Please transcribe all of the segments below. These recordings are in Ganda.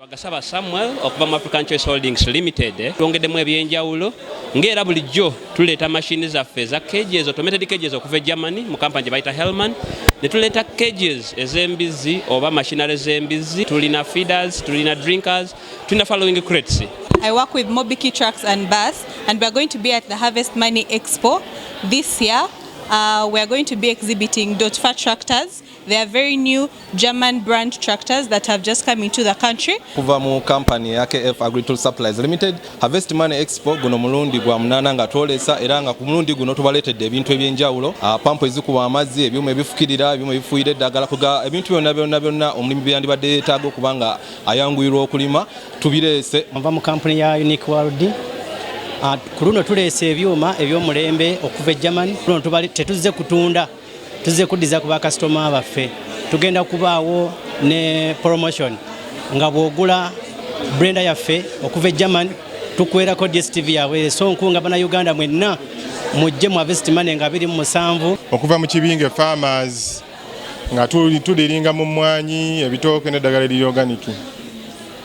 Bagasaba Samuel okuva mu African Choice Holdings Limited eh, twongeddemu ebyenjawulo ng'era bulijjo tuleeta mashini zaffe eza cages automated cages okuva e Germany mu kampani gye bayita Hellman ne tuleeta cages ez'embizzi oba machinery z'embizzi tulina feeders tulina drinkers tulina following crates I work with Mobiki Trucks and Bus and we are going to be at the Harvest Money Expo this year. Uh, we are going to be exhibiting Dotfa tractors There are very new German brand tractors that have just come into the country. Kuva mu company ya KF Agricultural Supplies Limited, Harvest Money Expo guno mulundi gwa munana nga twolesa era nga ku mulundi guno tubaleetedde ebintu eby'enjawulo, ah, pampu ezikuba amazzi, ebyuma ebifukirira, ebyuma ebifuuyira eddagala, kuga ebintu byonna byonna byonna omulimi byeyandibadde yeetaaga okuba nga ayanguyirwa okulima tubireese. Nva mu kampuni ya Unique World ah, ku luno tuleese ebyuma eby'omulembe okuva e German. Ku luno tetuzze kutunda tuzze kuddiza ku bakasitoma baffe tugenda kubaawo ne promotion nga bw'ogula brenda yaffe okuva e german tukwerako dstv yaabwe esonku nga banauganda mwenna mujje mu avest mane nga biri mu musanvu okuva mu kibinge farmers nga tuliringa mu mmwanyi ebitooke n'eddagala eriri organiki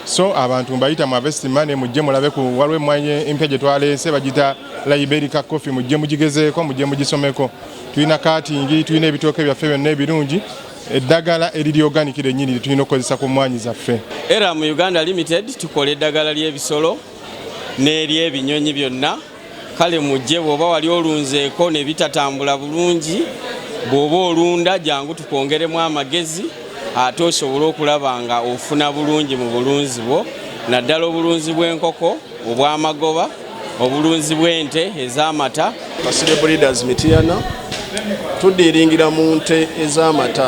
So abantu mbayita mu avesti mane mujje mulabe ku waliwo emmwanyi empya gye twaleese bagita liberica coffee mujje mugigezeeko mujje mugisomeko tulina katingi tulina ebitooke byaffe byonna ebirungi eddagala eriri organic lyennyini lye tulina okukozesa ku mmwanyi zaffe era mu uganda limited tukola eddagala ly'ebisolo n'ery'ebinyonyi byonna kale mujje bwoba wali olunzeeko ne bitatambula bulungi bwoba olunda jangu tukwongeremu amagezi ate osobole okulaba nga ofuna bulungi mu bulunzi bwo naddala obulunzi bw'enkoko obw'amagoba obulunzi bw'ente ez'amata kasire breeders mitiyana tudiiringira mu nte ez'amata